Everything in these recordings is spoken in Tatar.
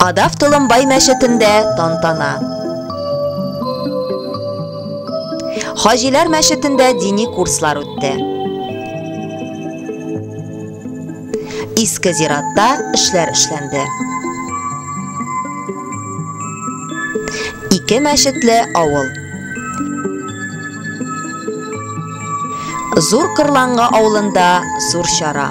Кадав Толымбай мәчетендә тантана. Хаҗиләр мәчетендә дини курслар үтте. Иске зиратта эшләр эшләнде. Ике мәчетле авыл. Зур Кырланга авылында зур чара.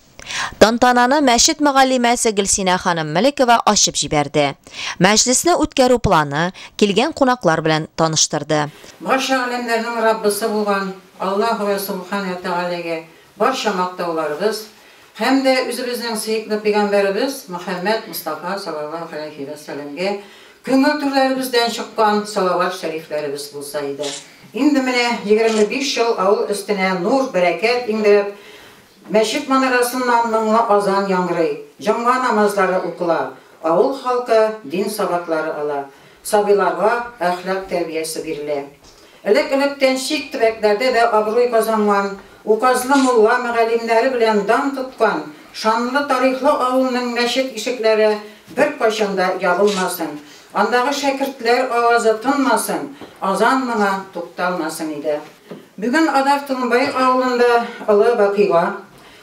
Тантананы мәчет мөгаллимәсе Гөлсинә ханым Мөлекова ачып җибәрде. Мәҗлесне үткәрү планы, килгән кунаклар белән таныштырды. Барча галәмнәрнең Раббысы булган Аллаһу вә Субхан вә Тәгаләгә барча мактауларыбыз һәм дә үзебезнең сөекле пәйгамбәребез Мөхәммәд Мостафа салаллаһу галәйһи вә сәламгә күңел түрләребездән чыккан салават шәрифләребез булса иде. Инде менә егерме биш ел авыл өстенә нур, бәрәкәт иңдереп, Мәчет манарасыннан моңлы азан яңгырый, җомга намазлары укыла, авыл халкы дин сабаклары ала, сабыйларга әхлак тәрбиясе бирелә. Элек-электән чит төбәкләрдә дә абруй казанган, указлы мулла-мөгаллимнәре белән дан тоткан шанлы тарихлы авылның мәчет ишекләре беркайчан да ябылмасын, андагы шәкертләр авазы тынмасын, азан моңы тукталмасын иде. Бүген Адар Тынбай авылында олы вакыйга,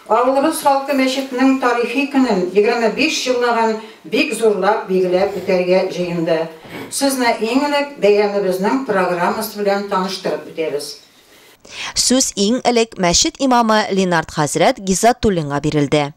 авылыбыз халкы мәчетнең тарихи көнен, 25 еллыгын бик зурлап билгеләп үтәргә җыенды. Сезне иң элек бәйрәмебезнең программасы белән таныштырып үтәбез. Сүз иң элек мәчет имамы Ленард хәзрәт Гиззатуллинга бирелде.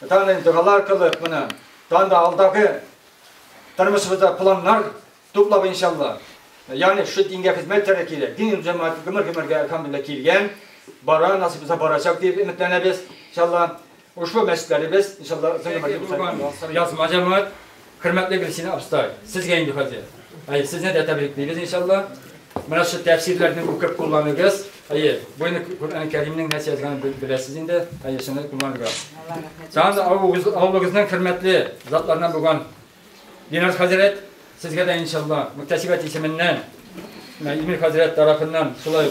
Данный догалар аркылы менә танда алдагы тормышыбызда планнар туплап иншалла. Яни шу дингә хезмәт итәргә кирәк. Дин җәмәгать гомер-гомергә әлхәмдулилла килгән, бара, насыйп булса барачак дип өметләнәбез иншалла. Ушлы мәчетләребез иншалла язма җәмәгать Хөрмәтле Гөлсинә абыстай, сезгә инде хәзер. Әйе, сезне дә тәбриклибез иншалла. Менә шул тәфсирләрне укып кулланыгыз. Әйе, бу инде Коръән Кәримнең нәрсә язганын беләсез инде. Әйе, шуны кулланырга. Тагын да авылыгызның хөрмәтле затларыннан булган Динар хәзрәт, сезгә дә иншалла мөхтәсибәт исеменнән Имир хәзрәт тарафыннан шулай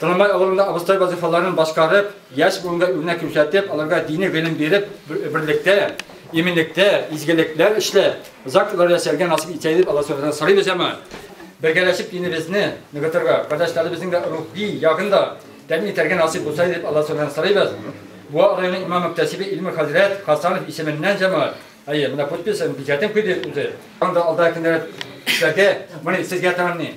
Трамвай авылында абыстай вазифаларын башкарып, яшь буынга үрнәк күрсәтеп, аларга дини гыйлем биреп, берлектә, иминлектә, изгелекләр эшлә, озак еллар яшәргә насыйп итсә дип Алла Субханаһудан сорыйбыз һәм бергәләшеп динебезне ныгытырга, кардәшләребезнең дә рухи ягын да тәэмин итәргә насыйп булса дип Алла Субханаһудан сорыйбыз. Буа районы имам-мөхтәсибе Илмир хәзрәт Хасанов исеменнән җәмәгать. Әйе, менә подписен, печатен куйды үзе. Анда алда көннәр эшләргә, моны сезгә тәмамлый.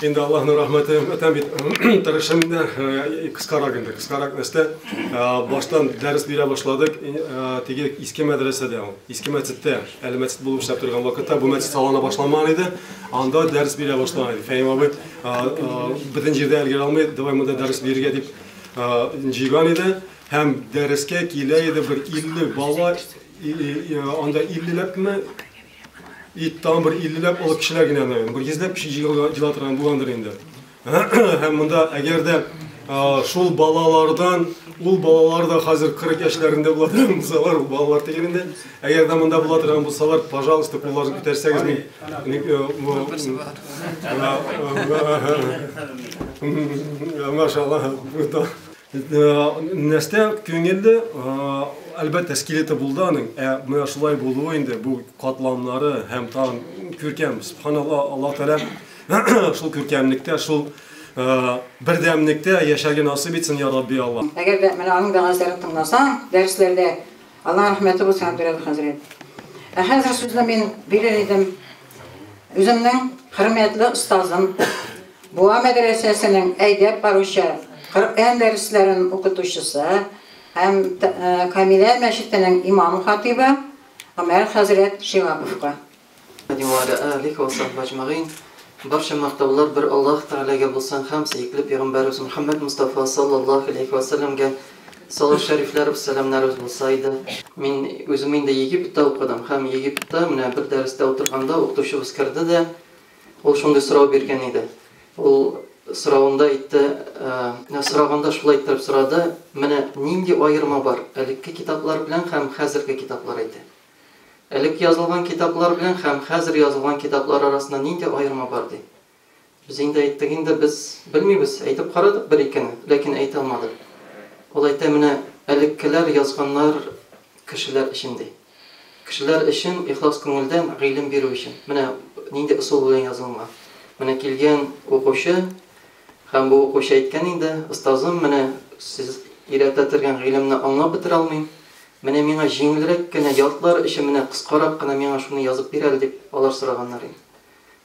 Инде Аллаһның рәхмәте, әтәм бит тырышым инде, кыскарак инде, кыскарак нәрсә. Баштан дәрес бирә башладык, теге иске мәдрәсәдә ул, иске мәчеттә, әле мәчет булып эшләп торган вакытта, бу мәчет салына башламаган иде, анда дәрес бирә башлаган иде. Фәһим абый, бөтен җирдә өлгерә алмый, давай монда дәрес бирергә дип җыйган иде, һәм дәрескә килә иде бер 50 бала, анда 50 ләпме, Ит тагын бер 50 ләп олы кешеләр генә генә, бер 100 ләп кеше җыела торган булгандыр инде. Һәм монда әгәр дә шул балалардан ул балалар да хәзер 40 яшьләрендә була торган булсалар, ул балалар түгел инде. Әгәр дә монда була торган булсалар, пожалуйста, кулларны күтәрсәгез мин. Машалла. Нәрсә күңелле, әлбәттә, скелеты булды аның, ә менә шулай булуы инде бу катламнары һәм тагын күркәм, субханалла, Аллаһ Тәгалә шул күркәмлектә, шул бердәмлектә яшәргә насыйп итсен, я Рабби Аллаһ. Әгәр дә менә аның вәгазьләрен тыңласаң, дәресләрдә, Аллаһ рәхмәте булсын, Әбдерәүф хәзрәт. Ә хәзер сүзне мин бирер идем. Үземнең хөрмәтле остазым, Буа мәдрәсәсенең әйдәп баручы Коръән дәресләрен укытучысы һәм Камилә мәчетенең имам-хатыйбы Гомәр хәзрәт Шиһаповка. Барча мактаулар бер Аллаһ Тәгаләгә булсын һәм сөекле пәйгамбәребез Мөхәммәд Мостафа саллаллаһу галәйһи вә сәлләмгә, Салах Шәрифләров сәламнәребез булса иде. Мин үзем инде Египетта укыдым һәм Египетта менә бер дәрестә утырганда укытучыбыз керде дә, ул шундый сорау биргән иде. Ул соравында әйтте, сораганда шулай иттереп сорады, Менә нинди аерма бар элекке китаплар белән һәм хәзерге китаплар, әйтә. Элек язылган китаплар белән һәм хәзер язылган китаплар арасында нинди аерма бар, ди. Без инде әйттек инде, без белмибез, әйтеп карадык бер-икене, ләкин әйтә алмадык. Ул әйтә, менә элеккеләр язганнар кешеләр өчен, ди. Кешеләр өчен ихлас күңелдән гыйлем бирү өчен, менә нинди ысул белән язылынган. Менә килгән укучы һәм бу укучы әйткән инде, остазым, менә сез өйрәтә тергән гыйлемне аңлап бетерә алмыйм, менә миңа җиңелрәк кенә, ялтлар өчен менә кыскарак кына миңа шуны язып бир әле, дип алар сораганнар инде.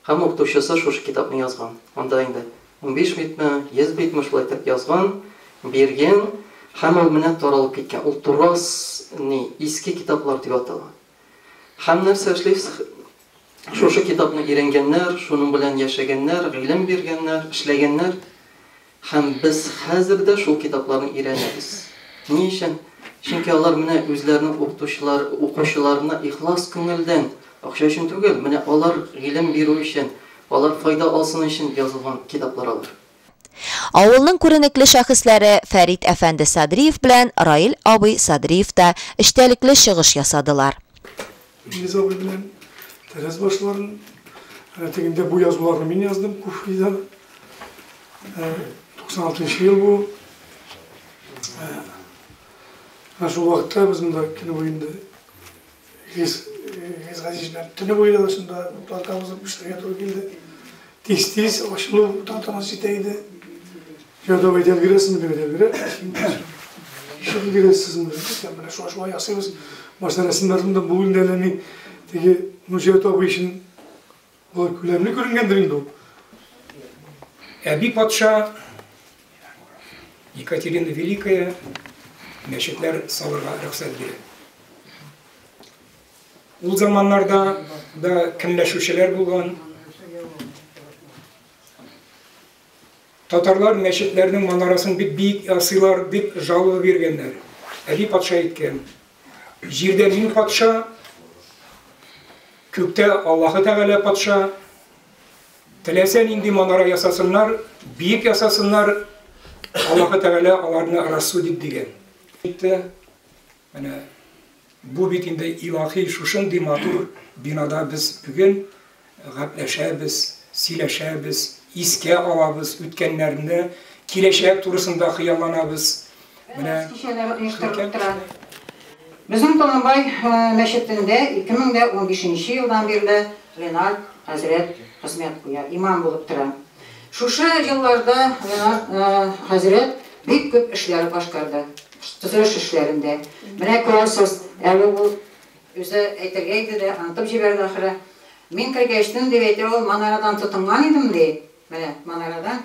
Һәм укытучысы шушы китапны язган. Анда инде унбиш битме, йөз битме шулай итеп язган, биргән һәм ул менә таралып киткән. Ул Турас ни, Иске китаплар дип атала. Һәм нәрсә эшлибез? Шушы китапны өйрәнгәннәр, шуның белән яшәгәннәр, гыйлем биргәннәр, эшләгәннәр. Һәм без хәзер дә шул китапларны өйрәнәбез. Ни өчен? Чөнки алар менә үзләренең укытучылар, укучыларына ихлас күңелдән, акча өчен түгел, менә алар гыйлем бирү өчен, алар файда алсын өчен язылган китаплар алар. Авылның күренекле шәхесләре Фәрит әфәнде Садриев белән Раил абый Садриев та эчтәлекле чыгыш ясадылар. Илгиз абый белән тәрәз башларын, ә тегендә бу язуларны мин яздым Куфида. 96 ел бу. Ә шул вакытта без монда көне буенда Илгиз Газиз белән төне буе да шунда плантабызны пешерергә туры килде. Тиз-тиз ачылу тантанасы җитә иде. Йә, давай, дәлгерәсен генә дәлгерә. Ишек дәлгерәсезме? Икән, менә шулай шулай ясыйбыз. Башта рәсемнәрдән дә бүген дә ләми. Теге Нуҗәт абый өчен бу күләмле күренгәндер инде ул. Әби патша Екатерина Великая мәчетләр салырга рөхсәт бирә. Ул заманнарда да көнләшүчеләр булган, Татарлар мәчетләрнең манарасын бик биек ясыйлар, дип жалоба биргәннәр. Әби патша әйткән, Җирдә мин патша, күктә Аллаһы Тәгалә патша. Теләсә нинди манара ясасыннар, биек ясасыннар, Аллаһы Тәгалә аларны рассудит, дигән. Менә бу бит инде илаһи, шушындый матур бинада без бүген гәпләшәбез, сөйләшәбез, искә алабыз үткәннәрне, киләчәк турысында хыялланабыз. Менә кичәләре оештырылып тора. Безнең Толымбай мәчетендә 2015 нче елдан бирле Ленар хәзрәт хезмәт куя, имам булып тора. Шушы елларда Ленар хәзрәт бик күп эшләр башкарды. Төзелеш эшләрендә. Менә күрәсез, әле ул үзе әйтергә иде дә, онытып җибәрде ахры. Мин кергәч, төн дип әйтә ул, манарадан тотынган идем, ди. Менә манарадан.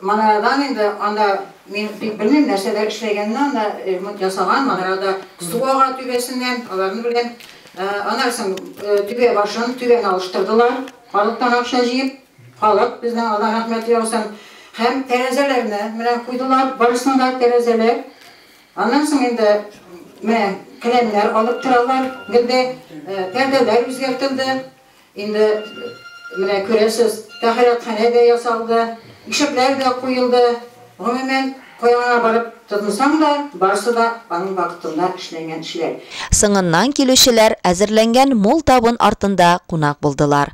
Манарадан инде анда мин бик белмим, нәрсәләр эшләгәнен анда, ремонт ясаган, манарада су ага түбәсеннән, аларны беләм. Аннан соң түбә башын, түбәне алыштырдылар, халыктан акча җыеп. Халык безнең алдан рәхмәт яусын. Һәм тәрәзәләрне менә куйдылар, барысын да тәрәзәләр. Аннан соң инде менә келәмнәр алып торалар, гел дә пәрдәләр үзгәртелде. Инде менә күрәсез, тәһарәтханә дә ясалды, ишекләр дә куелды. Гомумән, кая гына барып тотынсаң да, барысы да аның вакытында эшләнгән эшләр. Соңыннан килүчеләр әзерләнгән мул табын артында кунак булдылар.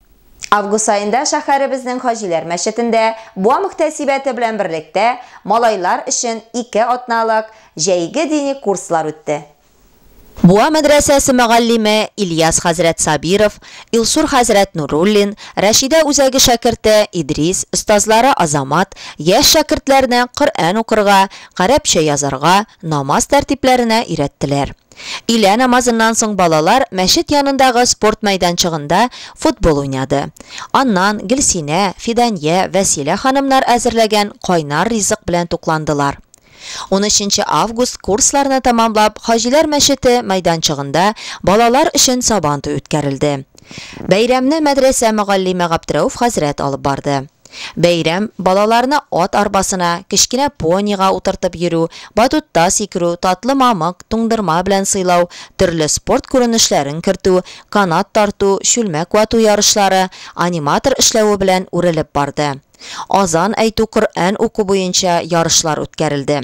Август аенда шәһәребезнең Хаҗиләр мәчетендә Буа мөхтәсибәте белән берлектә малайлар өчен ике атналык җәйге дини курслар үтте. Буа мәдрәсәсе мөгаллиме Ильяс хәзрәт Сабиров, Илсур хәзрәт Нуруллин, Рәшидә үзәге шәкерте Идрис, остазлары Азамат, яшь шәкертләрне Коръән укырга, гарәпчә язарга, намаз тәртипләренә өйрәттеләр. Өйлә намазыннан соң балалар мәчет янындагы спорт мәйданчыгында футбол уйнады. Аннан Гөлсинә, Фидания, Вәсилә ханымнар әзерләгән кайнар ризык белән тукландылар. Унөченче август курсларны тәмамлап Хаҗиләр мәчете мәйданчыгында балалар өчен Сабантуй үткәрелде. Бәйрәмне мәдрәсә мөгаллиме Габдрәүф хәзрәт алып барды. Бәйрәм, балаларны ат арбасына, кечкенә понига утыртып йөрү, батутта сикерү, татлы мамык, туңдырма белән сыйлау, төрле спорт күренешләрен кертү, канат тарту, чүлмәк вату ярышлары, аниматор эшләве белән үрелеп барды. Азан әйтү, Коръән уку буенча ярышлар үткәрелде.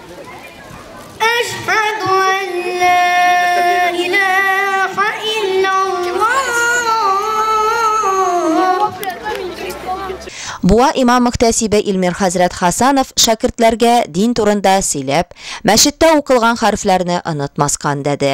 Буа имам-мөхтәсибе Илмир хәзрәт Хасанов шәкертләргә дин турында сөйләп, мәчеттә укылган хәрефләрне онытмаска өндәде.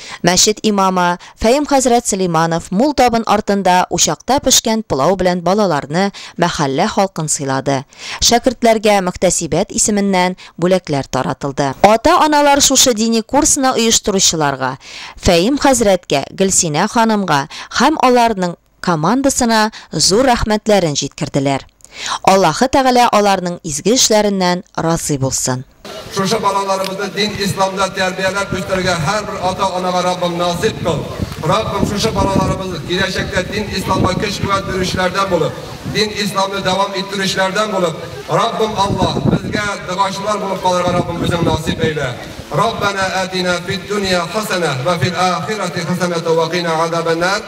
Мәчет имамы Фәем хәзрәт Сөләйманов мул табын артында учакта пешкән пылау белән балаларны, мәхәллә халкын сыйлады. Шәкертләргә мөхтәсибәт исеменнән бүләкләр таратылды. Ата-аналар шушы дини курсны оештыручыларга, Фәем хәзрәткә, Гөлсинә ханымга һәм аларның, командасына зур рәхмәтләрен җиткерделәр. Аллаһы Тәгалә аларның изге эшләреннән разый булсын. Шушы балаларыбызны дин исламда тәрбияләп үстерергә һәрбер ата-анага Раббым насыйп кыл! Раббым, шушы балаларыбыз киләчәктә дин исламга көч-куәт бирүчеләрдән булып, дин исламны дәвам иттерүчеләрдән булып, Раббым Аллаһ, безгә догачылар булып калырга Раббым үзең насыйп әйлә! Раббәнә әтинә фиддүния хәсәнә вә фил ахирәти хәсәнәтә вә кина азабәннар!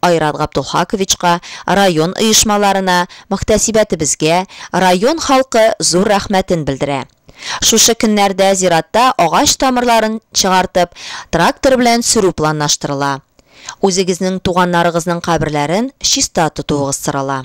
Айрат Габдулхаковичка, район оешмаларына, мөхтәсибәтебезгә, район халкы зур рәхмәтен белдерә. Шушы көннәрдә зиратта агач тамырларын чыгартып, трактор белән сөрү планлаштырыла. Үзегезнең туганнарыгызның каберләрен чиста тотуыгыз сорала.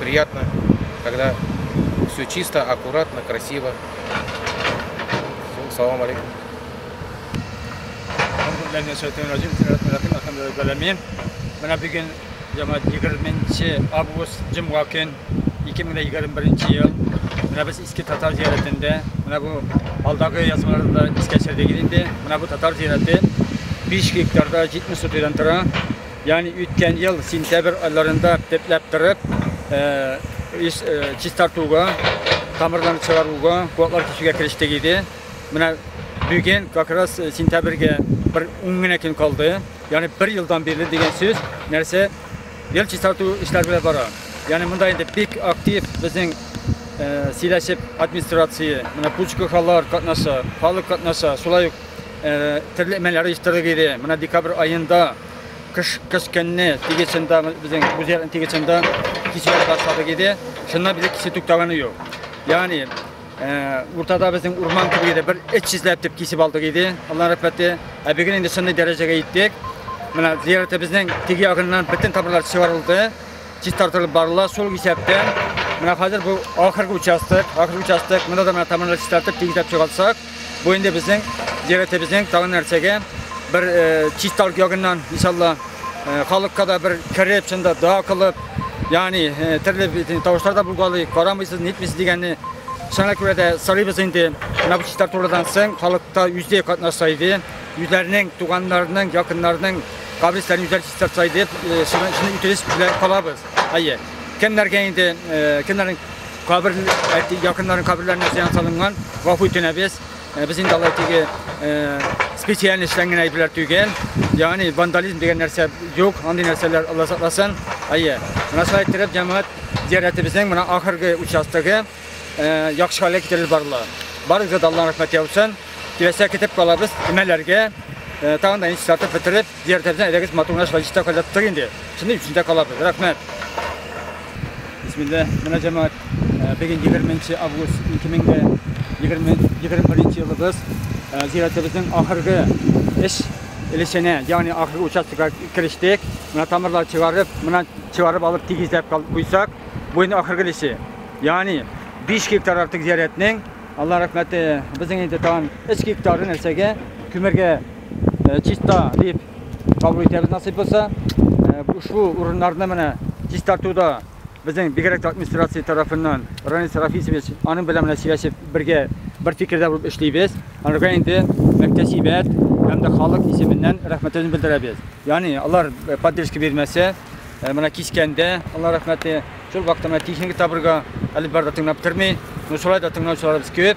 Приятно, когда все чисто, аккуратно, красиво. Все, салам алейкум. Менә бүген яңа 20 август җомга көн 2021 ел. Менә без иске татар зиярәтендә. Менә бу алдагы язмаларда искә төшердек инде. Менә бу татар зиярәте 5 гектарда 70 сотыйдан тора. Ягъни үткән ел сентябрь айларында пепләп кырып, ис чистартуга, тамырларны чыгаруга, куаклар кисүгә керештек иде. Менә бүген как раз сентябрьгә бер ун генә көн калды. Ягъни бер елдан бирле дигән сүз, нәрсә ел чистарту эшләре белән бара. Ягъни монда инде бик актив безнең сөйләшеп администрация, менә пучкахалар катнаша, халык катнаша, шулай ук төрле мәлләр оештырдык иде. Менә декабрь аенда Кыш кыш көнне тигезендә безнең үзәк тигезендә кичәләр башлады иде. Шуннан бер кисе туктаганы юк. Ягъни уртада безнең урман кебек иде, бер эт чизләп дип кисеп алдык иде. Аллаһ рәхмәте. Ә бүген инде шундый дәрәҗәгә иттек. Менә зиярәтебезнең теге ягыннан бөтен тамырлар чыгарылды, чистартылып барыла. Шул исәптән менә хәзер бу ахыргы участок, ахыргы участок, монда да менә тамырлар чистартып, тигезләп чыгартсак, Бу инде безнең зиратебезнең тагын нәрсәгә бер чит халык ягыннан иншалла халыкка да бер кереп, шунда дога кылып, ягъни төрле тавышлар да булгалый, карамыйсыз, нитмисез дигәнне Шуңа күрә дә сорыйбыз инде, менә бу чистар турыдан соң халыкта үзе катнаша иде, үзләренең туганнарының, якыннарының кабристәне үзләре чистартса иде, шуны үтенеч белән калабыз. Әйе. Кемнәргә инде, кемнәрнең Кабер әти якыннарын каберләренә зыян салынган. Гафу үтенәбез. Э, без инде алай теге э, специаль эшләнгән әйберләр түгел. Ягъни вандализм дигән нәрсә юк. Андый нәрсәләр Алла сакласын. Әйе. Менә шулай иттереп җәмәгать зиярәтебезнең менә ахыргы участогы э, яхшы хәлгә китерелеп барыла. Барыгызга да Аллаһның рәхмәте яусын. Киләчәк китеп калабыз, имәләргә. Тагын да иншалла бетереп Дияр тәрәзә элегез матур гына шулай чиста кайлап тор инде. Шундый өчендә калабыз. Рәхмәт. Бисмилла, менә җәмәгать, бүген 20 август 2021 елыбыз. Зиратыбызның ахыргы эш өлешенә, ягъни ахыргы участокка керештек. Менә тамырлар чыгарып, менә чыгарып алып тигезләп куйсак, бу инде ахыргы өлеше. Ягъни 5 гектар артык зиратның Алла рәхмәте, безнең инде тагын 3 гектары нәрсәгә, күмергә чиста дип кабул итәбез насыйп булса. Ушу урыннарны менә чистартуда безнең бигрәк администрация тарафыннан Ранис Рафисович аның белән менә сөйләшеп бергә бер фикердә булып эшлибез. Анырга инде мөхтәсибәт һәм дә халык исеменнән рәхмәтен белдерәбез. Яни алар поддержка бирмәсә, менә кискәндә алар рәхмәте шул вакытта техника табырга әле бар да тыңлап тормый. Ну шулай да тыңлаучыларыбыз күп.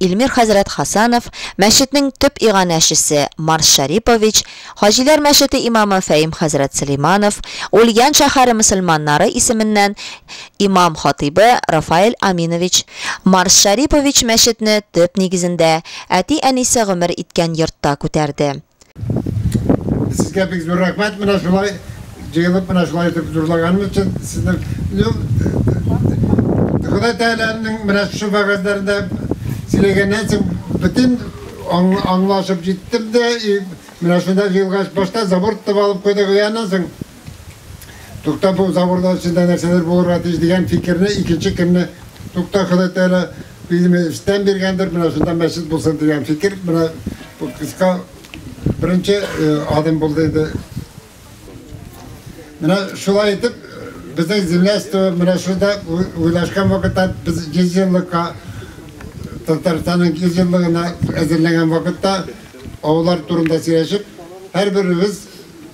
Илмир хәзрәт Хасанов, мәчетнең төп иганәчесе Марс Шәрипович, Хаҗиләр мәчете имамы Фәим хәзрәт Сөләйманов, Ульян шәһәре мөселманнары исеменнән имам-хатыйбы Рафаэль Аминович, Марс Шәрипович мәчетне төп нигезендә, әти-әнисе гомер иткән йортта күтәрде. Сезгә бик зур рәхмәт, менә шулай җыелып, менә шулай итеп зурлаганым өчен сезнең ну, Ходай Тәгаләнең менә шушы вәгазьләрендә сөйләгәннән соң бөтен аңлашып җиттем дә, менә шунда җыелгач башта заборт алып куйдык, аннан соң Тукта бу заборда эчендә нәрсәдер булырга тиеш дигән фикерне икенче көнне Тукта Ходай Тәгалә билеме эштән биргәндер, менә шунда мәчет булсын дигән фикер менә бу кыска беренче э, адым булды инде. Менә шулай итеп безнең земляство менә шунда уйлашкан вакытта без 100 еллыкка Татарстанның 100 еллыгына әзерләнгән вакытта авыллар турында сөйләшеп, һәрберебез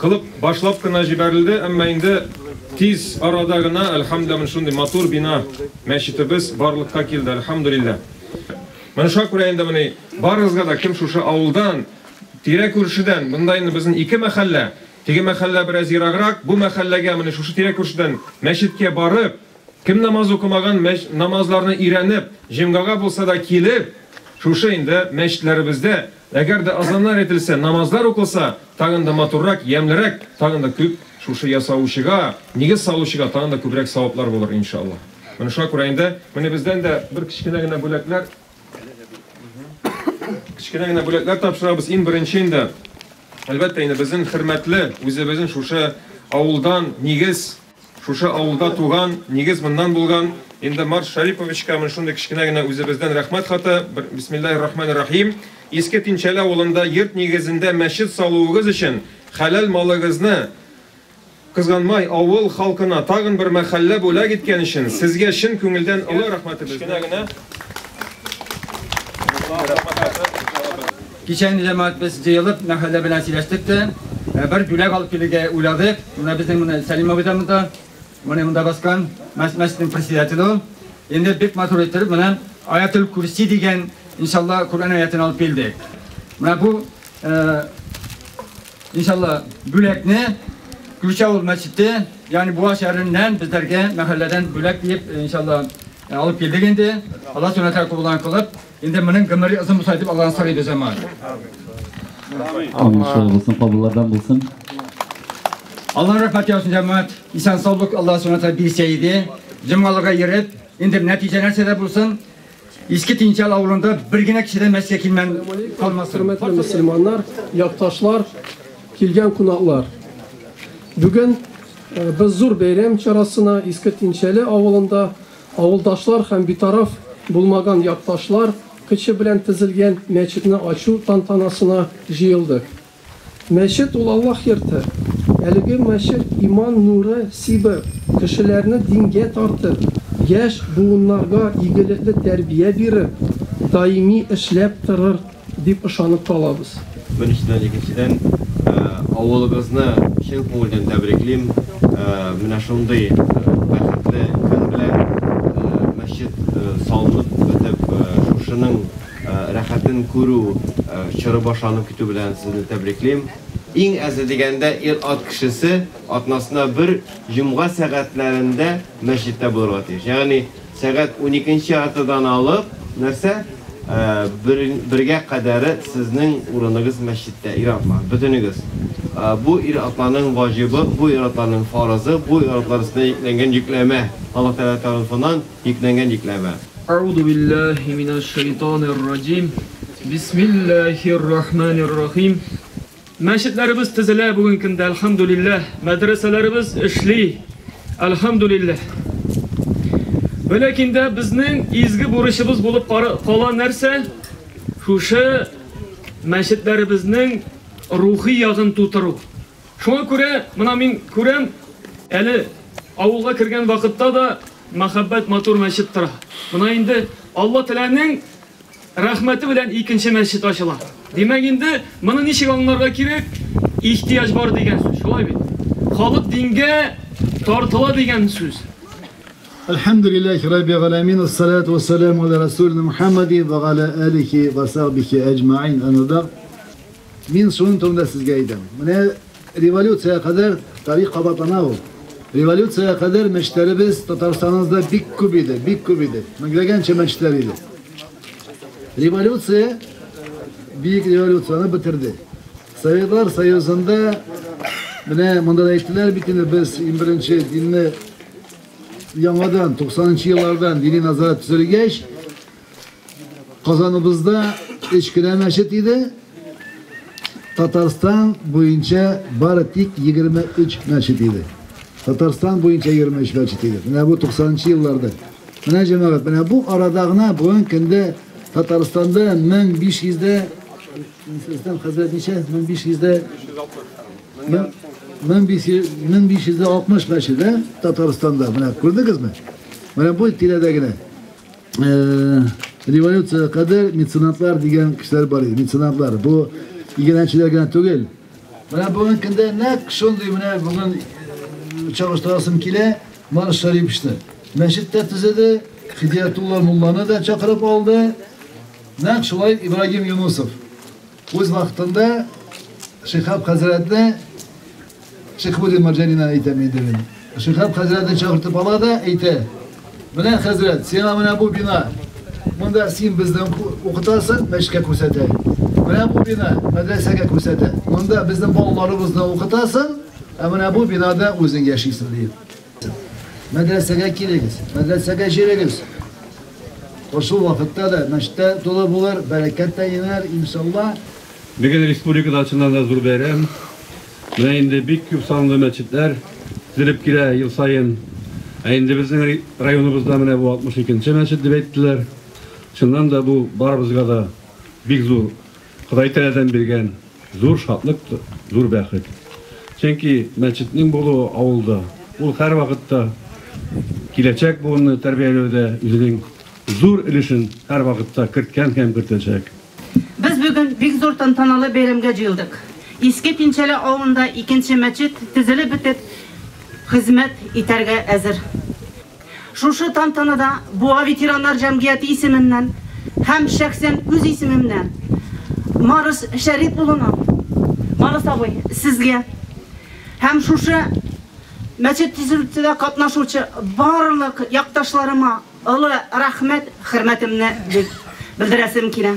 Кылып башлап кына җибәрелде, әмма инде тиз арада гына, әлхәмдүлилләһ, менә шундый матур бина, мәчетебез барлыкка килде, әлхәмдүлилләһ. Менә шуңа күрә инде менә барыгызга да, кем шушы авылдан, тирә-күршедән, монда инде безнең ике мәхәллә, теге мәхәллә бераз ераграк, бу мәхәлләгә менә шушы тирә-күршедән мәчеткә барып, кем намаз укымаган, мәч, намазларны өйрәнеп, җомгага булса да килеп, шушы инде мәчетләребездә, Әгәр дә азаннар әйтелсә, намазлар укылса, тагын да матуррак, ямьлерәк, тагын да күп шушы ясаучыга, нигез салучыга тагын да күбрәк саваплар булыр, ин ша Аллаһ. Менә шуңа күрә инде, менә бездән дә бер кечкенә генә бүләкләр, кечкенә генә бүләкләр тапшырабыз. Иң беренче инде, әлбәттә инде, безнең хөрмәтле, үзебезнең шушы авылдан, нигез, Шушы авылда туган, нигез моннан булган, инде Марс Шәриповичка менә шундый кечкенә генә үзебездән рәхмәт хаты, бисмиллаһи рахмани рахим, Иске Тинчәле авылында йорт нигезендә мәчет салуыгыз өчен хәләл малыгызны кызганмай авыл халкына тагын бер мәхәллә бүләк иткән өчен сезгә чын күңелдән олы рәхмәтебезне Кичен җәмәгать без җыелып мәхәллә белән сөйләштек тә, бер бүләк алып килергә уйладык. Менә безнең менә Сәлим абый да монда, менә монда баскан, мәчетнең председателе ул. Инде бик матур иттереп менә Аятел Курси дигән, иншалла, Коръән аятен алып килдек. Менә бу, иншалла, бүләкне Күрше авыл мәчете, ягъни Буа шәһәреннән безләргә мәхәлләдән бүләк диеп, иншалла, алып килдек инде. Алла Сүбхәнә Тәгалә кабул кылып, Инде моның гомере озын булса дип Аллаһын сорыйбыз әмма. Амин шулай булсын, кабуллардан булсын. Алла рәхмәт яусын җәмәгать. Исән саулык Алла Субхану бирсә иде. Җомгалыга йөреп, инде нәтиҗә нәрсә дә булсын, Иске Тинчал авылында бер генә кеше дә мәскә килмән калмасын. Хөрмәтле мөселманнар, якташлар, килгән кунаклар. Бүген без зур бәйрәм чарасына Иске Тинчәле авылында Авылдашлар һәм битараф булмаган якташлар кычы белән тезелгән мәчетне ачу тантанасына җыелдык. Мәчет ул Аллаһ йорты. Әлеге мәчет иман нуры сибеп, кешеләрне дингә тартып, яшь буыннарга игелекле тәрбия биреп, даими эшләп торыр Дип ышанып калабыз. Беренчедән, икенчедән, авылыгызны чын күңелдән тәбриклим. Менә шундый бәхетле көн белән, мәчет салынып бетеп, шушының рәхәтен күрү чоры башланып китү белән сезне тәбриклим. Иң әзе дигәндә, ир-ат кешесе атнасына бер җомга сәгатьләрендә мәчеттә булырга тиеш. Ягъни Сәгать уникенче атадан алып, нәрсә, бер, бергә кадәре сезнең урыныгыз мәчеттә, ир-атлар, бөтенегез. Бу ир-атларның ваҗибы, бу ир-атларның фарызы, бу ир-атлар өстенә йөкләнгән йөкләмә, Аллаһ Тәгалә тарафыннан йөкләнгән йөкләмә. Әгъузу билләһи минәш шәйтанир раҗим. Бисмилләһир рахманир рахим. Мәчетләребез төзелә бүген көндә, әлхәмдүлилләһ. Мәдрәсәләребез эшли, әлхәмдүлилләһ. Вә ләкин дә безнең изге бурычыбыз булып кала нәрсә? Шушы мәчетләребезнең рухи ягын тутыру. Шуңа күрә мына мин күрәм, әле авылга кергән вакытта да мәхәббәт матур мәчет тора. Мына инде Алла Тәләнең Рәхмәте белән икенче мәчет ачыла. Димәк инде, моны ничек аңларга кирәк? Ихтияҗ бар дигән сүз, шулай бит? Халык дингә тартыла дигән сүз. Әлхәмдүлилләһи Рабби галәмин, ассалату вассаламу аля Расулина Мухаммади ва галя алихи ва сахбихи әҗмәгыйн, әмма бәгъд. Мин шуның турында сезгә әйтәм. Менә Революциягә кадәр тарих кабатлана ул. Революциягә кадәр мәчетләребез Татарстаныбызда бик күп иде, бик күп иде. Меңләгәнчә мәчетләр иде. Революция Бөек революцияне бетерде. Советлар Союзында менә монда да әйттеләр бит инде без иң беренче динне яңадан 90 нчы еллардан дини назарат төзелгәч Казаныбызда өч кенә мәчет иде. Татарстан буенча бары тик 23 мәчет иде. Татарстан буенча 23 мәчет иде. Менә бу 90-нчы елларда. Менә җәмәгать, менә бу арада гына бүгенге көндә Татарстанда 1500 дә Рөстәм хәзрәт ничә? 1500 дә 1560 мәчет, Татарстанда. Менә күрдегезме? Менә бу тирәдә генә. революция кадәр меценатлар дигән кешеләр бар иде. Меценатлар бу игенәчеләр генә түгел. Менә бүгенге көндә нәкъ шундый менә бүген чагыштырасым килә, Марш Шариповичны. Мәчет тә төзеде, Хидиятулла мулланы да чакырып алды. Нәкъ шулай Ибрагим Юнусов. Үз вакытында Шихаб хәзрәтне Шихбулин Марҗанина әйтәм инде мин. Шихаб хәзрәтне чакыртып ала да әйтә. Менә хәзрәт, сиңа менә бу бина. Монда син безне укытасың, мәчкә күрсәтә. Менә бу бина мәдрәсәгә күрсәтә. Монда безнең балаларыбызны укытасың, ә менә бу бинада үзең яшисең диеп. Мәдрәсәгә килегез, мәдрәсәгә җөрегез. Кошул вакытта да мәчет тә тулы булыр, бәрәкәт тә инәр, иншалла. Бүген республикада чыннан да зур бәйрәм. Менә инде бик күп санлы мәчетләр төзелеп килә ел саен. Ә инде безнең районыбызда менә бу 62 нче мәчет дип әйттеләр. Чыннан да бу барыбызга да бик зур Ходай Тәаләдән биргән зур шатлык, зур бәхет. Чөнки мәчетнең булуы авылда, ул һәрвакытта киләчәк буынны тәрбияләүдә үзенең зур өлешен һәрвакытта керткән һәм кертәчәк. Без бүген бик зур тантаналы бәйрәмгә җыелдык. Иске Пинчәле авылында икенче мәчет төзелеп бетеп, хезмәт итәргә әзер. Шушы тантанада Буа ветераннар җәмгыяте исеменнән һәм шәхсән үз исемемнән Марс Шәрип улына, Марс абый, сезгә һәм шушы мәчет төзелтүдә катнашучы барлык якташларыма олы рәхмәт хөрмәтемне белдерәсем килә.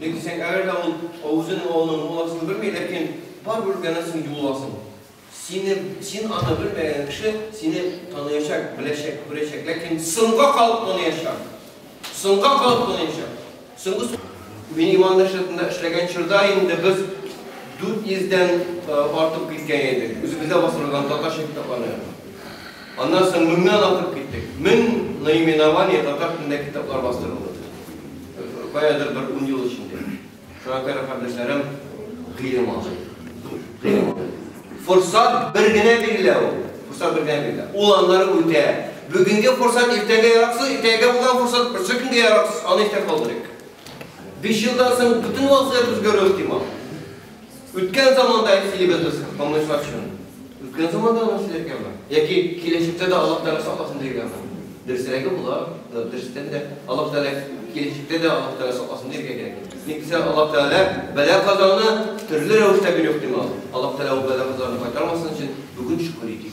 Ник дисәң, әгәр дә ул үзен олының мул асын белми, ләкин барыбер үткәннәсең юл асын. Сине, син аны белмәгән кеше сине таныячак, беләчәк, күрәчәк, ләкин соңга калып таныячак. Соңга калып таныячак. Соңгы Мин иман нәшрәтендә эшләгән чорда инде без 400 дән артып киткән идек. Үзебездә бастырылган татарча китапларны. Аннан соң меңнән артып киттек. Мең наименований татар телендә китаплар бастырылды. Каядыр бер ун ел эчендә. Шуңа күрә кардәшләрем гыйлем алды. Гыйлем алды. Форсат бер генә бирелә ул. Форсат бер генә бирелә. Ул аннары үтә. Бүгенге форсат иртәгә яраксыз, иртәгә булган форсат берсе көнгә яраксыз, аны истә калдырыйк. Биш елдан соң бөтен вазгыять үзгәрү ихтимал. Үткән заманда исилебез калмыйча өчен. Үткән заманда аны сөйләргәме? Яки киләчәктә дә Аллаһ Тәгалә сакласын диергәме? Дөресрәге була, дөрестән дә Аллаһ Тәгалә киләчәктә дә Аллаһ Тәгалә сакласын диергә кирәк. Ник дисә, Аллаһ Тәгалә бәла казаны төрле рәвештә бирү ихтимал. Аллаһ Тәгалә ул бәла казаны кайтармасын өчен бүген шөкер итик.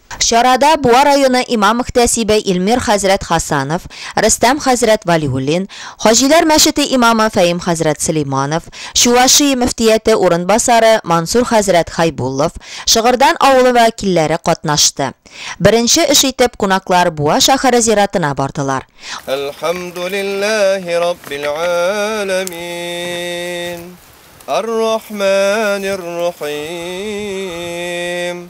Чарада Буа районы имам-мөхтәсибе Илмир хәзрәт Хасанов, Рөстәм хәзрәт Вәлиуллин, Хаҗиләр мәчете имамы Фәим хәзрәт Сөләйманов, Чувашия мөфтияте урынбасары Мансур хәзрәт Хәйбуллов, Шыгырдан авылы вәкилләре катнашты. Беренче эш итеп кунаклар Буа шәһәре зиратына бардылар. Әлхәмдүлилләһи раббил әләмин, ар-рахманир-рахим,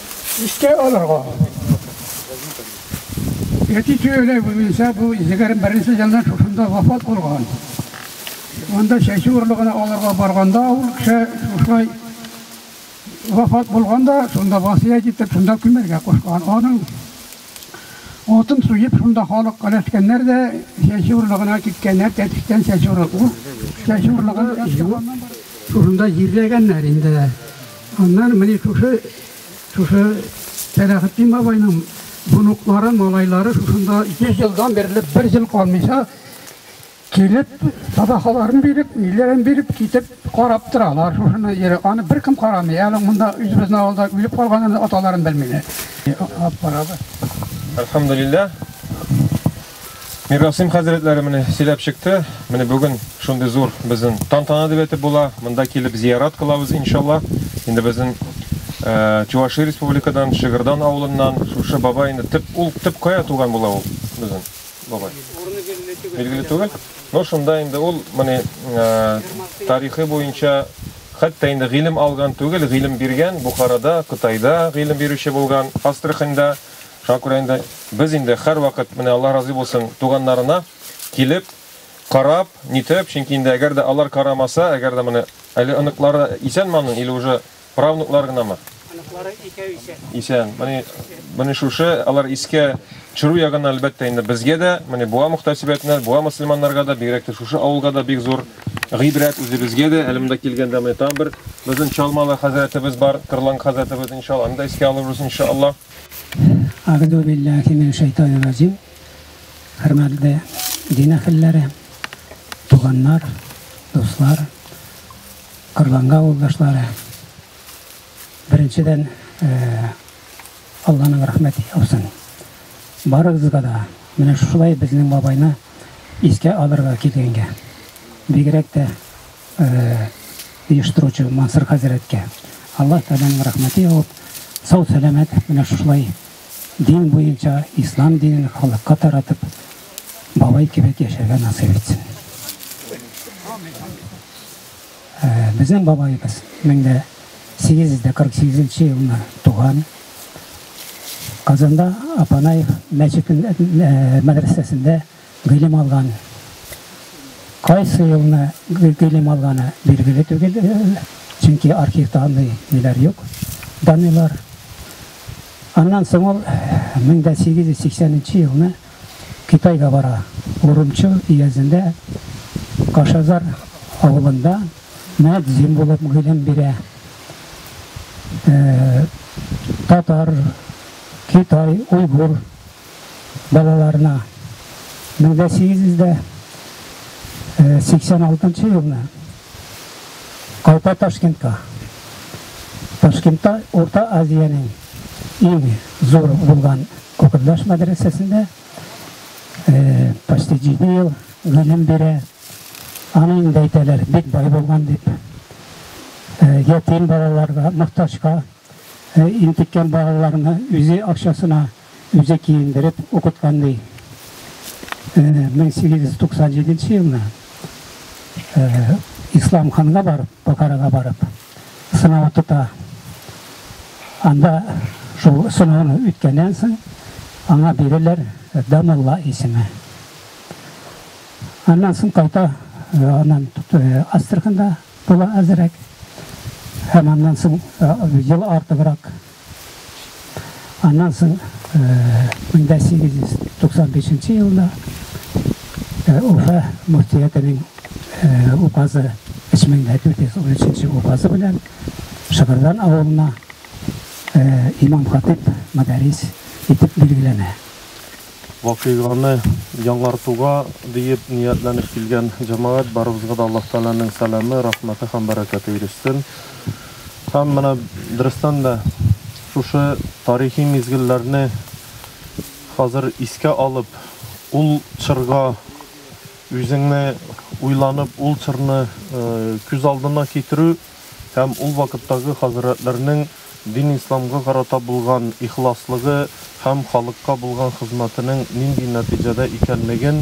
Искә алырга. Әти сөйләй буенча бу егерме беренче елда шушында вафат булган. Монда чәчү орлыгына алырга барганда ул кеше шушай вафат булганда, шунда васыять итеп, шунда күмәргә кушкан. Аның Утын суеп, шунда халык өләшкәннәр дә чәчү орлыгына киткәннәр, тәтештән чәчү орлыгы. Ул чәчү орлыгын җуып, шушында җирләгәннәр инде. Аннан менә шушы, шушы Сәләхетдин бабайның внуклары, малайлары шушында йөз елдан бирле бер ел калмыйча Килеп, садакаларын биреп, ниләрен биреп, китеп, карап торалар. Шушыны йөри. Аны беркем карамый. Әле монда үзебезнең авылда үлеп калганын аталарын белмиләр. Алып барабыз. Әлхәмдулилла. Мирасыйм хәзрәтләре менә сөйләп чыкты. Менә бүген шундый зур безнең тантана дип әйтеп була. Монда килеп зиярат кылабыз, иншалла. Инде безнең Чуваши республикадан, Шыгырдан авылыннан шушы бабай инде төп ул төп кая туган була ул безнең? бабай. Урыны билгеле түгел. Билгеле түгел. Но шунда инде ул моны тарихы буенча хәтта инде гыйлем алган түгел, гыйлем биргән Бухарада, Кытайда гыйлем бирүче булган, Астраханьда. Шуңа күрә инде без инде һәрвакыт менә Аллаһ разый булсын туганнарына килеп, карап, нитеп, чөнки инде әгәр дә алар карамаса, әгәр дә моны әле оныклары исән-ман или уже Правнуклар гынамы? Оныклары икәү исән. Исән. Менә менә шушы алар искә төшерү ягыннан әлбәттә инде безгә дә, менә буа мөхтәсибәтенә, буа мөселманнарга да, бигрәк тә шушы авылга да бик зур гыйбрәт үзебезгә дә. Әле монда килгәндә менә там бер безнең Чалмалы хәзрәтебез бар, Кырлан хәзрәтебез иншалла, аны да искә алырбыз иншалла. Агду биллахи мин шайтан разим. Хөрмәтле дин әһелләре, туганнар, дуслар. Корбанга авылдашлары, беренчедән, Алланың рәхмәте яусын. Барыгызга да менә шулай безнең бабайны искә алырга килгәнгә, бигрәк тә оештыручы Мансур хәзрәткә Аллаһ Тәгаләнең рәхмәте явып, сау-сәламәт менә шулай дин буенча ислам динен халыкка таратып, бабай кебек яшәргә насыйп итсен. Ә, безнең бабаебыз 1848 елына туган. Казанда Апанаев мәчетендә мәдрәсәсендә Гыйлем алган. Кайсы елны гыйлем алганы билгеле түгел, чөнки архивта андый ниләр юк, данилар. Аннан соң ул 1880 елны Китайга бара. Урумчу өязендә Кашазар авылында мөәззин булып гыйлем бирә. Татар, Китай, Уйгур балаларына. Мең дә сигез йөз дә сиксән алтынчы елны кайта Ташкентка. Ташкентта Урта Азиянең иң зур булган Кукырдаш мәдрәсәсендә почти җиде ел гыйлем бирә. Аны инде әйтәләр, бик бай булган дип. Ятим балаларга, мохтаҗка интеккән балаларны үзе акчасына Үзе киендереп укыткан ди. 1897 елны Ислам ханга барып, Бохарага барып, сынау тота. Анда шул сынауны үткәннән соң, аңа бирәләр Дамулла исеме. Аннан соң кайта, аннан Астраханда була әзерәк. Һәм аннан соң ел артыбрак Аннан соң 1895 э, елда э, Уфа мөфтиятенең э, указы 3413 указы белән Шыгырдан авылына имам хатип мәдарис итеп билгеләнә. Вакыйганы яңартуга диеп ниятләнеп килгән җәмәгать, барыбызга да Аллаһ Тәгаләнең сәламе, рәхмәте һәм бәрәкәте ирешсен. Һәм менә дөрестән дә шушы тарихи мизгелләрне хәзер искә алып, ул чорга үзеңне уйланып, ул чорны күз алдына китерү, һәм ул вакыттагы хәзрәтләрнең дин исламга карата булган ихласлыгы һәм халыкка булган хезмәтенең нинди нәтиҗәдә икәнлеген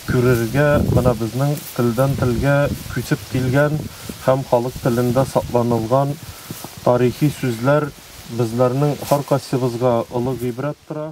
күрергә менә безнең телдән-телгә күчеп килгән һәм халык телендә сакланылган тарихи сүзләр безләрнең һәркайсыбызга олы гыйбрәт тора.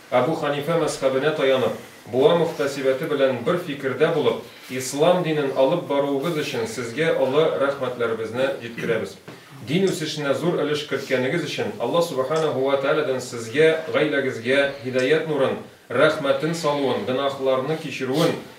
Әбү Хәнифә мәзхәбенә таянып, буа мөхтәсибәте белән бер фикердә булып, ислам динен алып баруыгыз өчен сезгә олы рәхмәтләребезне җиткерәбез. Дин үсешенә зур өлеш керткәнегез өчен Алла Сүбхәнәһү вә Тәгаләдән сезгә, гаиләгезгә һидаять нурын, рәхмәтен салуын, гөнаһларны кичерүен,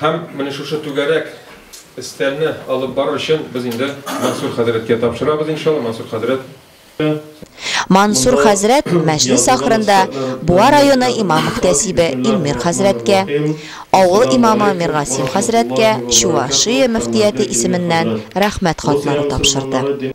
Һәм менә шушы түгәрәк өстәлне алып бару өчен без инде Мансур хәзрәткә тапшырабыз, иншалла, Мансур хәзрәт. Мансур хәзрәт мәҗлес ахырында Буа районы имам-мөхтәсибе Илмир хәзрәткә, авыл имамы Миргасим хәзрәткә Чувашия мөфтияте исеменнән рәхмәт хатлары тапшырды.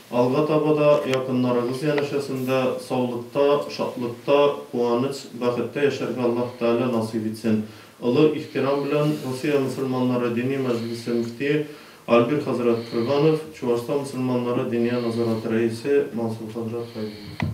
Алга таба да якыннарыгыз янәшәсендә саулыкта, шатлыкта, куаныч, бәхеттә яшәргә Аллаһ Тәгалә насыйп итсен. Олы ихтирам белән, Русия мөселманнары Дини мәҗлесе мөфтие Альбир хәзрәт Крганов, Чуашстан мөселманнары Диния назараты рәисе Мансур хәзрәт Хәйбуллин.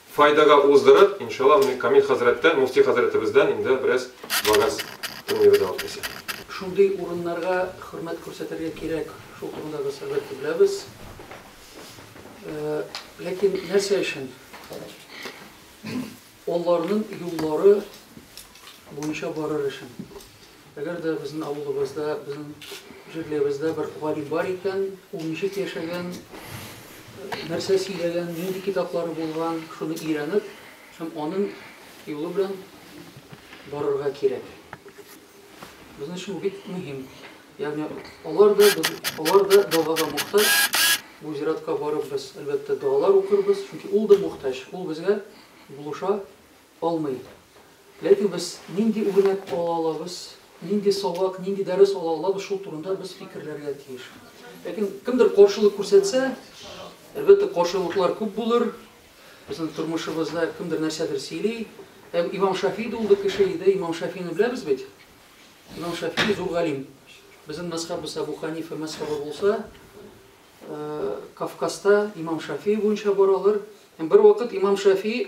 файдага уздырып, иншалла, менә Камил хәзрәттән, мөфти хәзрәтебездән инде бераз вәгазь тыңлыйбыз алар килсә. Шундый урыннарга хөрмәт күрсәтергә кирәк, шул турында без, әлбәттә, беләбез. Ләкин нәрсә өчен? Аларның юллары буенча барыр өчен. Әгәр дә безнең авылыбызда, безнең җирлебездә бер галим бар икән, ул ничек яшәгән, нәрсә сөйләгән, нинди китаплары булган, шуны өйрәнеп һәм аның юлы белән барырга кирәк. Безнең өчен бик мөһим. Ягъни алар да алар да догага мохтаҗ. Бу зиратка барып без, әлбәттә, догалар укырбыз, чөнки ул да мохтаҗ. Ул безгә булыша, Алмый. Ләкин без нинди үрнәк ала алабыз, нинди сабак, нинди дәрес ала алабыз, шул турында без фикерләргә тиеш. Ләкин кемдер каршылык күрсәтсә, әлбәттә, каршылыклар күп булыр. Безнең тормышыбызда кемдер нәрсәдер сөйли. Һәм Имам Шафи дә ул кеше иде. Имам Шафины беләбез бит. Имам Шафи зур галим. Безнең мәсхәбез Абу Ханифа мәсхәбе булса, Кавказда Имам Шафи буенча баралар. Һәм бер вакыт Имам Шафи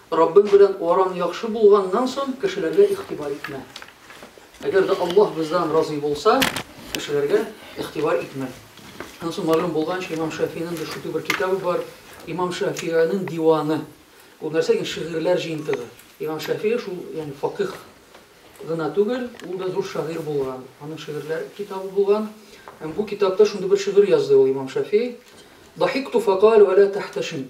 Раббың белән араң яхшы булганнан соң, кешеләргә игътибар итмә. Әгәр дә Аллаһ бездән разый булса, кешеләргә игътибар итмә. Аннан соң мәгълүм булганча, имам Шафиинең дә шундый бер китабы бар, имам Шафииның диваны. Ул нәрсә икән? Шигырьләр җыентыгы. Имам Шафии шул, ягъни факих гына түгел, ул да зур шагыйрь булган. Аның шигырьләр китабы булган. Һәм бу китапта шундый бер шигырь язды ул имам Шафии. Дахикту факалу ала тахташим.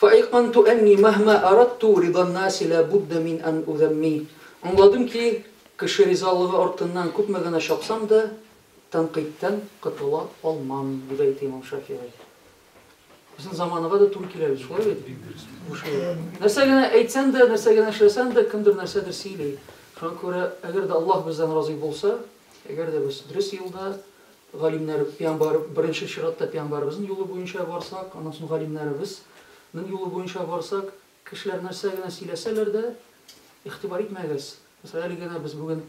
Фаэйканту әнни мәһма аратту риданнаси лә будда мин ан узәмми Аңладым ки, кеше ризалыгы артыннан күпме генә чапсам да, тәнкыйтьтән котыла алмам, дип әйтә имам Шафигый. Безнең заманага да туры килә бит, шулай бит? Нәрсә генә әйтсәң дә, нәрсә генә эшләсәң дә, кемдер нәрсәдер сөйли. Шуңа күрә, әгәр дә Аллаһ бездән разый булса, әгәр дә без дөрес юлда, Галимнәр, пиамбар, беренче чиратта пиамбарыбызның юлы буенча барсак, аннан соң галимнәребез нең юлы буенча барсак, кешеләр нәрсә генә сөйләсәләр дә, игътибар итмәгез. Мәсәлән, әле генә без бүген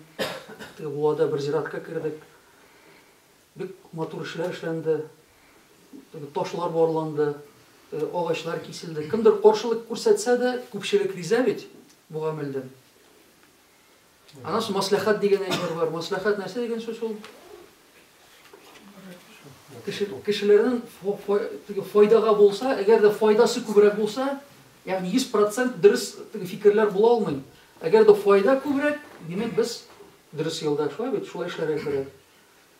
теге буада бер зиратка кердек. Бик матур эшләр эшләнде. Теге ташлар барланды, теге агачлар киселде. Кемдер каршылык күрсәтсә дә, күпчелек риза бит бу гамәлдән. Аннан соң мәслихәт дигән әйбер бар. Мәслихәт нәрсә дигән сүз ул? Кеше, кешеләрнең файдага булса, әгәр дә файдасы күбрәк булса, ягъни 100% дөрес фикерләр була алмый. Әгәр дә файда күбрәк, димәк без дөрес юлда, шулай бит, шулай эшләргә кирәк.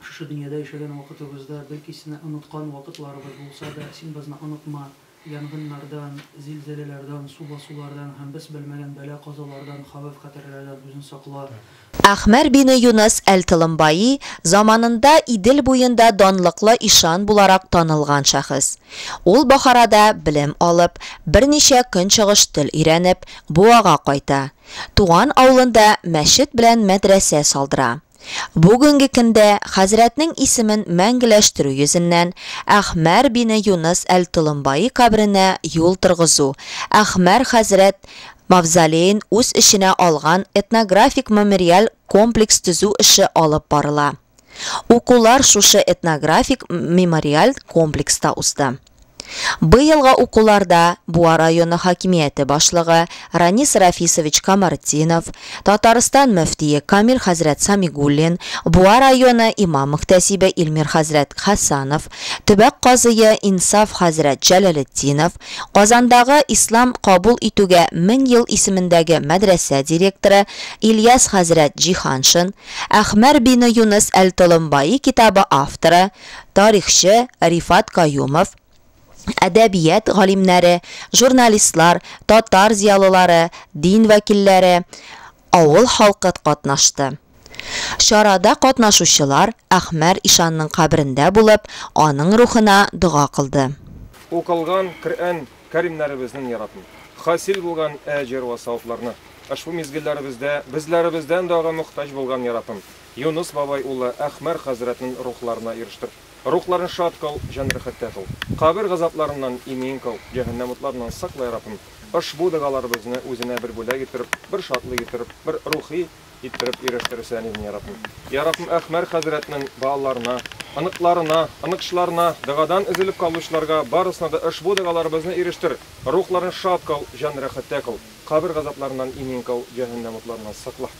Шушы дөньяда яшәгән вакытыбызда, бәлки сине оныткан вакытларыбыз булса да, син бызны онытма, янгыннардан, зилзәләләрдан, су басулардан һәм без белмәгән бәла-казалардан, хәвеф-хәтерләрдән үзен сакла. Әхмәр бине Юныс әл-Толымбаи, заманында Идел буенда данлыклы ишан буларак танылган шәхес. Ул Бохарада белем алып, берничә көнчыгыш тел өйрәнеп, Буага кайта. Туган авылында мәчет белән мәдрәсә салдыра. Бүгенге көндә хәзрәтнең исемен мәңгеләштерү йөзеннән Әхмәр бине Юныс әл-Толомбаи каберенә юл торгызу, Әхмәр хәзрәт мавзолеен үз эченә алган этнографик-мемориаль комплекс төзү эше алып барыла. Укулар шушы этнографик-мемориаль комплекста узды. Быелгы укуларда Буа районы хакимияте башлыгы Ранис Рафисович Камартдинов, Татарстан мөфтие Камил хәзрәт Самигуллин, Буа районы имам-мөхтәсибе Илмир хәзрәт Хәсанов, төбәк казые Инсаф хәзрәт Җәләлетдинов, Казандагы Ислам кабул итүгә мең ел исемендәге мәдрәсә директоры Ильяс хәзрәт Җиһаншин, Әхмәр бине Юныс әл-Толомбаи китабы авторы, тарихчы Рифат Каюмов, әдәбият галимнәре, журналистлар, татар зыялылары, дин вәкилләре, авыл халкы катнашты. Чарада катнашучылар Әхмәр ишанның каберендә булып, аның рухына дога кылды. Укылган Коръән кәримнәребезнең яратм, хасил булган әҗер вә савапларны, ошбу мизгелләребездә безләребездән дагы мохтаҗ булган яратм, Юныс бабай улы Әхмәр хәзрәтнен рухларына ирештер. Рухларын шат кыл, җан рәхәттә кыл. Кабер газапларыннан имин кыл, җәһәннәм утларыннан сакла, я Раббым. Ошбу догаларыбызны үзенә бер бүләк иттереп, бер шатлык иттереп, бер рухи иттереп ирештерсән идең, я Раббым. Я Раббым, Әхмәр хәзрәтнен балаларына, оныкларына, оныкчларына, догадан өзелеп калучыларга барысына да ошбу догаларыбызны ирештер, рухларын шат кыл, җан рәхәттә кыл. Кабер газапларыннан имин кыл, җәһәннәм утларыннан сакла.